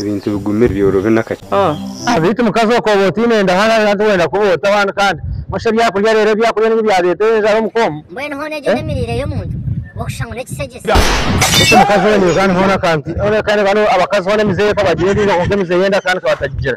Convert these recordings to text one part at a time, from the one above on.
Ebintu bigumire byorobi n'akakiiko. Beitu mukazi okwo oba otaine ndaha nari hati wenda kuba ota wani kandi nosha ebyakurya rero ebyakurya nibyo byareta enjara omu ka omu. Beitu mukazi owe naija hanu hoona ka nti, oreka reba abakazi hoona emize eka bagyereriire kwonka emize yenda ka nti ka batagigira.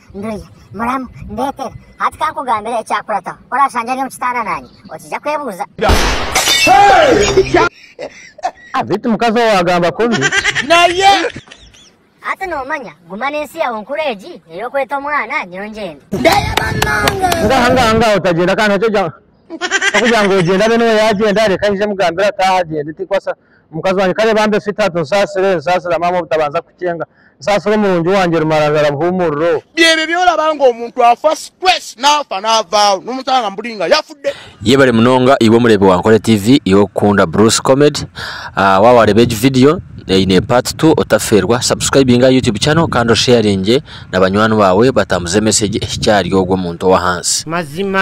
Nduya, Muramu, ndetere. Hati ka nkugambire ekyakurataho. Ku oraashangye ari omu kitaara naanye, okiija kwebuuza. Beitu mukazi owe agamba kubi. Hati noomanya, guma n'ensi yaawe nkuru egi ey'okweta omwana, nyowe ngyende. Ngaha ngaha ngaha otagyenda kandi hati ogira ngu ogyenda mbwenu we yaagyenda reka nyije mugambire ataahe agyende tikwasa. Mukazi wangye kare bambe sweetheart nsaasire, nsaasira maama obutabanza kukyenga, nsaasira omurungi wangye rumararara buhuumuriro. Byebi ebyoraba ngu omuntu afa stress nafa navaho nomusanga mburi nga yafude. Yebale munonga iwe omureebi wa Nkore TV iwe okukunda Bruce Comedy ah, waaba waareeba egi video eine part two otafeerwa subscribinga aha YouTube channel kandi osharinge na banywani baawe batambuze message ehikye ahari ogwo muntu ow'ahansi. Mazima